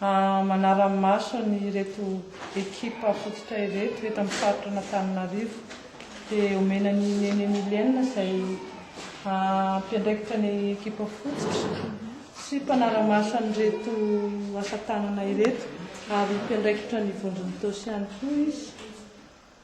Manara-maso an'ireto ekipa fototra ireto eto amin'ny faritra an'Antananarivo dia omena an'i Neny Emilienne izay hampiandraikitra ny ekipa fototra sy mpanara-maso an'ireto asa tanana ireto ary mpiandraikitra ny vondron'Itaosy ihany koa izy.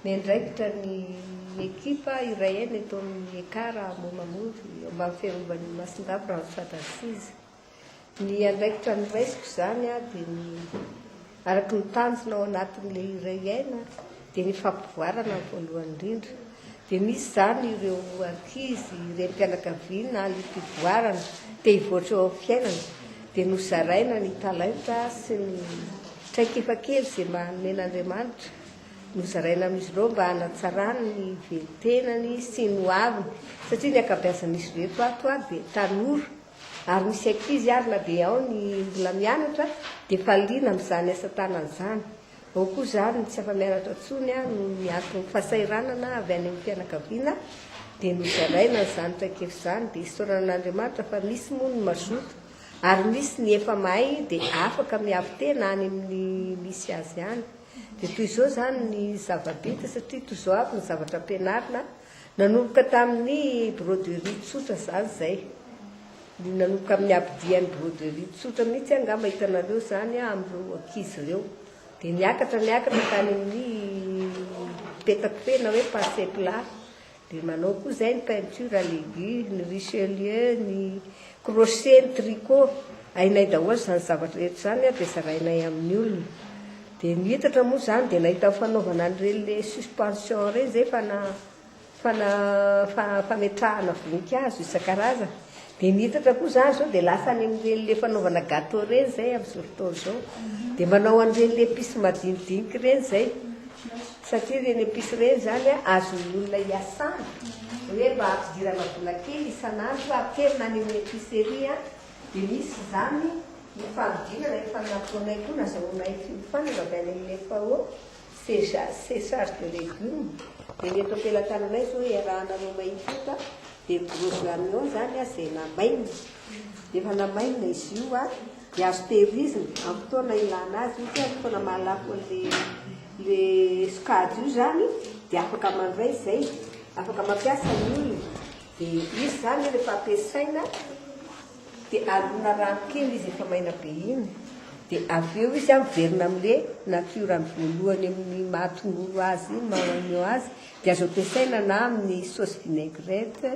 Miandraikitra ny ekipa Iraena eto amin'ny Ekar Ambohimangoro, eo ambany fiarovan'i Masindava Randrofat Aziz. Ny andraikitra noraisiko izany aho dia ny araka ny tanjona ao anatin'ilay Iraena dia ny fampivoarana ny voalohany indrindra. Dia misy izany ireo ankizy, renim-pianakaviana liam-pivoarana te hivoatra eo amin'ny fiainana dia nozaraina ny talenta sy ny traikefa kely izay manome an'Andriamanitra Nozaraina amin'izy ireo mba hanatsarany ny velon-tenany sy ny ho aviny satria ny ankabeazan'izy ireto ato ary dia tanora ary misy ankizy ary na dia ao ny mbola mianatra dia efa liana amin'izany asa tanana izany. Ao koa izany ny tsy afa-mianatra intsony noho ny anton'ny fahasahiranana avy any amin'ny fianakaviana dia nozaraina izany traikefa izany dia isaorana an'Andriamanitra fa misy moa ny mazoto ary misy ny efa mahay dia afaka miavo-tena any amin'ny misy azy any. Dia toy izao izany ny zava-bita satria toy izao avy ny zavatra ampianarina, nanomboka tamin'ny broderie tsotra izany izay, ny nanomboka amin'ny habidian'ny broderie tsotra mihitsy angamba hitanareo izany amin'ireo ankizy ireo, dia niakatra niakatra tany amin'ny petakofehy na hoe passe plat, Dia manao koa izay ny peinture à l'aiguille, ny richelieu, ny crochet, ny tricot. Hainay daholo izany zavatra rehetra izany ary dia zarainay amin'ny olona. Dia nihitatra moa izany dia nahita fanaovana an'ireny le suspension ireny izay fana fana fa fametrahana voninkazo isan-karazany. Dia nihitatra koa za zao dia lasa any amin'ireny le fanaovana gateau ireny zay amin'izao fotoana izao. Dia manao an'ireny le epices madinidiniky ireny zay. Satria ireny epices ireny zany an azon'ny olona iasana. Hoe mba hampidirana vola kely isan'andro aterina any amin'ny epicerie an. Dia misy izany ny fanodinana efa nataonay koa nazahoanay fiofanana avy any amin'ny FAO. César César de légumes dia ny eto ampelatananay izao iarahana roa mahitota dia gros oignons izany izay namainina dia efa namainina izy io a dia azo tehirizina amin'ny fotoana ilana azy ohatra hoe fotoana mahalafo an'ilay ilay sokajy io izany dia afaka mandray izay afaka mampiasa ny olona dia izy izany rehefa ampiasaina Dia alona rano kely izy efa maina be iny dia avy eo izy averina amle natiorany voalohany amin'ny maha tongolo azy iny maha oignon azy dia azo ampiasaina na amin'ny saosy vinaigrette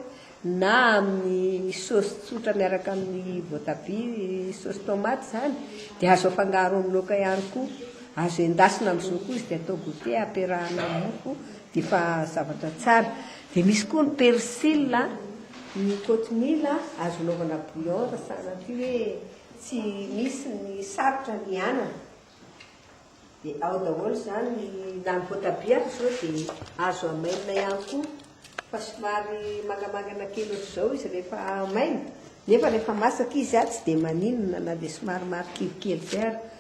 na amin'ny saosy tsotra miaraka amin'ny voatabia saosy tomate izany dia azo afangaro amin'ny laoka ihany koa. Azo endasina amin'izao koa izy dia atao goûter ampiarahana amin'ny mofo Efa zavatra tsara. Dia misy koa ny persil a, ny cochineal a, azo anaovana bouillon raha sahanao ity hoe tsy misy ny sarotra ny anana. Dia ao daholo izany, na ny voatabia ary izao dia azo hamainina ihany koa, fa somary mangamangana kely ohatr'izao izy rehefa hamaina, nefa rehefa masaka izy a, tsy dia maninona na dia somary marikivy kely izay ary.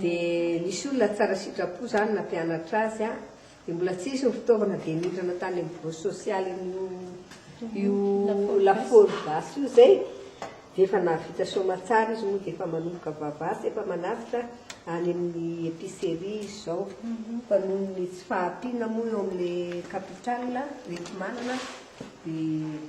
Dia nisy olona tsara sitrapo izany nampianatra azy an! Dia mbola tsy hisy ny fitaovana dia nindrana tany amin'ny biraon'ny sosialin' io lafaoro gasy io izay, dia efa nahavita soamatsara izy moa dia efa manomboka vava sy efa manavotra any amin'ny epicerie izy izao, fa noho ny tsy fahampiana moa eo amin'ilay capital rehetra manana dia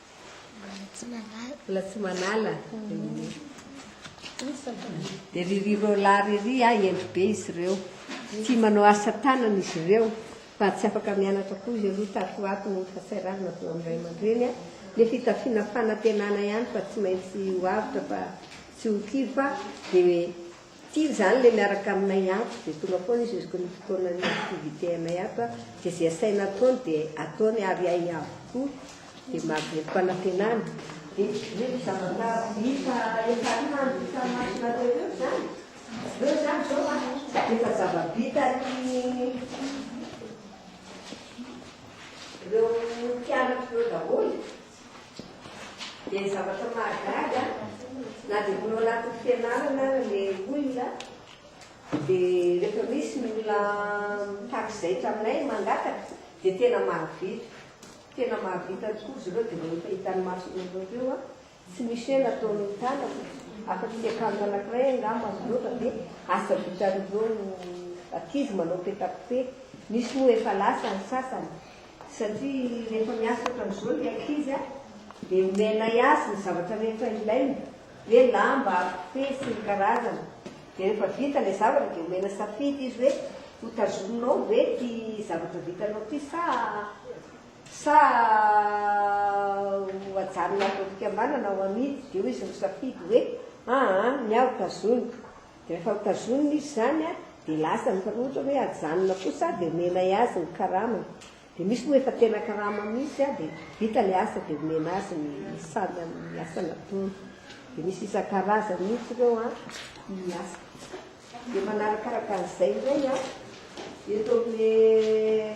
Mbola tsy manala. Dia ry ry Roland ry ry ah hendry be izy ireo. Tia manao asa tanana izy ireo fa tsy afaka mianatra koa izy ireo tato ho ato noho ny fahasahiranana avy eo amin'ny ray aman-dreny ah. Ny fitafiana fanantenana ihany fa tsy maintsy ho avotra fa tsy ho kivy fa dia Tia izany ilay miaraka aminay ato dia tonga foana izy isaky ny fotoanan'ny activité anay ato a, dia izay asaina ataony dia ataony ary hay avokoa, dia mahavelom panantenana. Dia ve ny zava-kazo hita eny Tarimandry no samy masonareo ireo izany? Ireo izany izao a, dia efa zava-bitan'ireo mpianatra ireo daholo. Dia ny zavatra mahagaga na dia mbola ao anatin'ny fianarana ary ilay olona dia rehefa misy ny olona mitaky zaitra aminay mangataka dia tena mahavita. Tena mahavita tokoa izy ireo dia ireo efa hitan'ny masony ireo eo an. Tsy misy hoe nataon'ny tanako afa-tsy akanjo anankiray angamba izy ireo fa dia asa vitan'ireo ankizy manao petakofehy. Misy moa efa lasa ny sasany satria rehefa miasa ohatran'izao ny ankizy a, dia omenay azy ny zavatra rehetra ilainy, hoe lamba, kofehy sy ny karazany, dia rehefa vita ilay zavatra dia omena safidy izy hoe ho tazominao ve ity zavatra vitanao ity sa sa ho ajanona ato am-pikambanana ho amidy, dia hoy izy misafidy hoe aa ny ahy ho tazoniko, Rehefa notazonina izy izany dia lasa fa ohatra hoe ajanona kosa dia omenay azy ny karamany dia misy moa efa tena karama mihitsy dia vita ilay asa dia omena azy ny saly amin'ny asa nataony dia misy isan-karazany mihitsy ireo an ny asa dia manarakaraka an'izay indray an eto amin'ny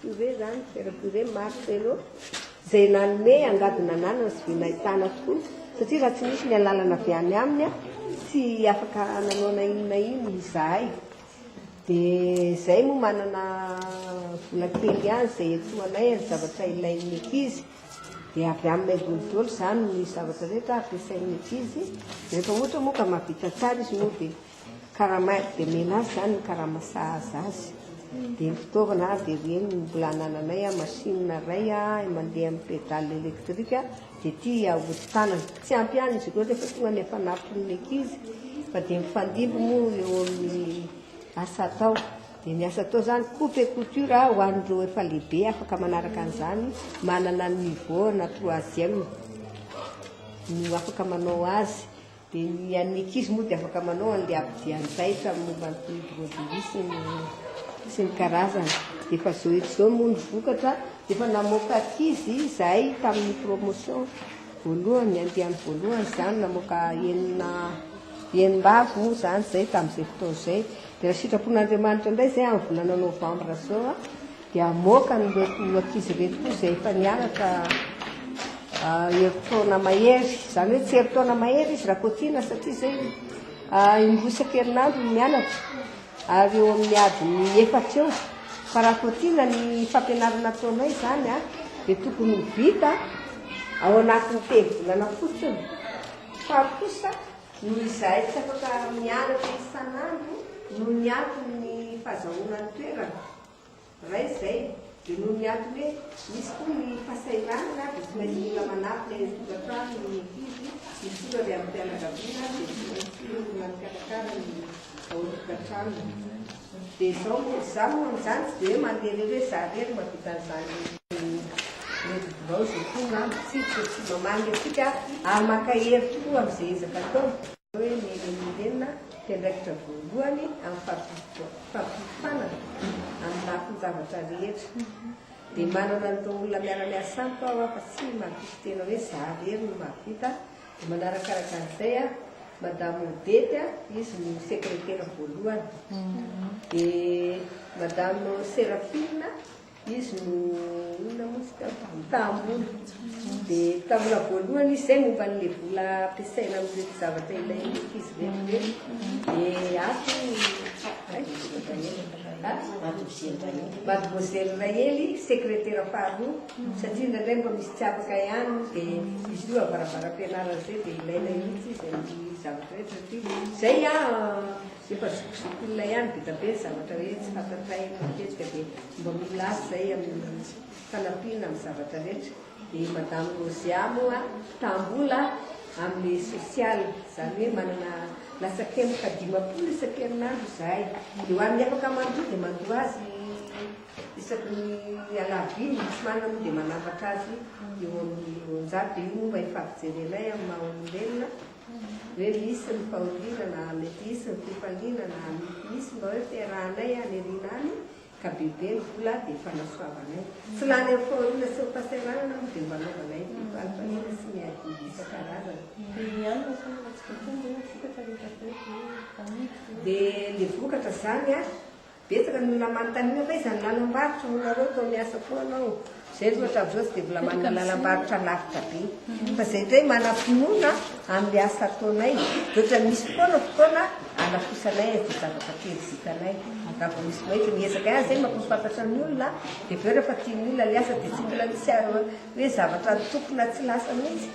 Kuzey izany, Pierre Kuzey, Marcelo, izay nanome angady nananana sy vy nahitana tokoa, satria raha tsy nisy ny alalana avy any aminy tsy afaka nanao na inona na inona izahay. Dia izay moa manana vola kely ihany izay iantohanay ny zavatra ilain'ny ankizy, dia avy aminay voly daholo izany ny zavatra rehetra ampiasain'ny ankizy, rehefa ohatra moa ka mahavita tsara izy moa dia. Karama air dia omena azy izany ny karama sahaza azy. Dia ny fitaovana ary dia ireny no mbola anananay a, machine iray a, mandeha amin'ny pédale électrique dia ity ahodin-tanana. Tsy ampy ihany izy ireo rehefa tonga ny hafanampon'ny ankizy fa dia mifandimby moa eo amin'ny asa atao. Dia ny asa atao izany coupe et couture ho an'ireo efa lehibe afaka manaraka an'izany, manana ny niveau na troisième no afaka manao azy. Dia ny an'ny ankizy moa dia afaka manao an'ilay ampodian-jaitra amin'ny momba ny Broderier sy ny sy ny karazany. Dia efa izao eto izao moa ny vokatra, dia efa namoaka ankizy izahay tamin'ny promotion voalohany, andiany voalohany izany, namoaka enina enina avy moa izany izay tamin'izay fotoana izay. Dia raha sitrapon'Andriamanitra indray izay amin'ny volana novambra izao a, Dia hamoaka an'ireto ankizy ireto koa izay efa nianatra herintaona mahery. Izany hoe tsy herintaona mahery izy raha cotinne satria izay indroa isan-kerinandro no mianatra ary eo amin'ny adiny efatra eo. Fa raha cotinne ny fampianarana ataonay izany a, dia tokony ho vita ao anatin'ny telo-bolana fotsiny. Fa kosa noho izahay tsy afaka mianatra isan'andro noho ny antony ny fahazahoana ny toerana, Ray izay dia noho ny antony hoe misy koa ny fasahiranana dia tsy maintsy mila manatona eny an-tokantrano ny ankizy misory avy amin'ny fianakaviana dia tsy maintsy olona mikarakara ny ao an-tokantrano. Dia izao moa izaho moa amin'izany tsy dia hoe mandeha irery hoe za irery mahavita an'izany mety bilaozy etoana, tsy tsy mamangy antsika ary maka hery tokoa amin'izay ezaka ataony. Hoe ny Remiremina dia andraikitra voalohany amin'ny fampiofanana amin'ny lafin-javatra rehetra. Dia manana an'ireo olona miara-miasa amiko aho fa tsy mampify tena hoe za rery no mahavita. Dia manaraka arakarak'izay aho. Madame Odette, izy no sekretera voalohany. Dia Madame Seraphine. Izy no olona moa tsy teo tamin'ny tahambola. Dia taminà voalohany izy izay momba an'ilay vola ampiasaina amin'ireto zavatra ilain'ny ankizy ireto ireto. Dia ato Mademoiselle Rahely, sekretera faharoa, satria indraindray mba misy tsy afaka ihany dia izy io avaravaram-pianarana izay dia ilaina mihitsy izy amin'ny zavatra rehetra satria izay an, Efa zokizoko olona ihany be dia be ny zavatra hoe tsy fantatray eto matetika dia mba mila azy izay amin'ny fanampiana amin'ny zavatra rehetra. Dia i Madame Rozia moa mpitaham-bola amin'ny social, izany hoe manana latsakemboka dimampolo isan-kerinandro izahay. Dia ho an'ny afaka mandoa dia mandoa azy isaky ny alarobia, ny tsy manana moa dia manambatra azy eo amin'ny roanjato. Dia io moa mba efa avy jerenay amin'ny maha olombelona. hoe misy ny fahoriana na mety hisy ny fifaliana na mety hisy mba hoe fiarahanay any aoriana any ka bebe ny vola dia fanasoavanay tsy lany amin'ny fahoriana sy ny fahasahiranana aho dia mba anaovanay ny valintaniana sy ny adidy isan-karazany dia ny vokatra izany a Betsaka ny olona manontaniana fa iza ny lalam-barotra hoy nareo toa miasa foana ao. Zay ry ohatran'izao tsy dia mbola manana lalam-barotra lavitra be. Fa zay indray manam-pinoana amin'ny asa ataonay dia ohatran'ny misy foana fotoana anafosanay an'izay zavatra kely vitanay. Raha vao misy maika miezaka ihany zay mampahafantatra ny olona dia avy eo rehefa tian'ny olona ny asa dia tsy mbola misy ary hoe zavatra nitokona tsy lasa mihitsy.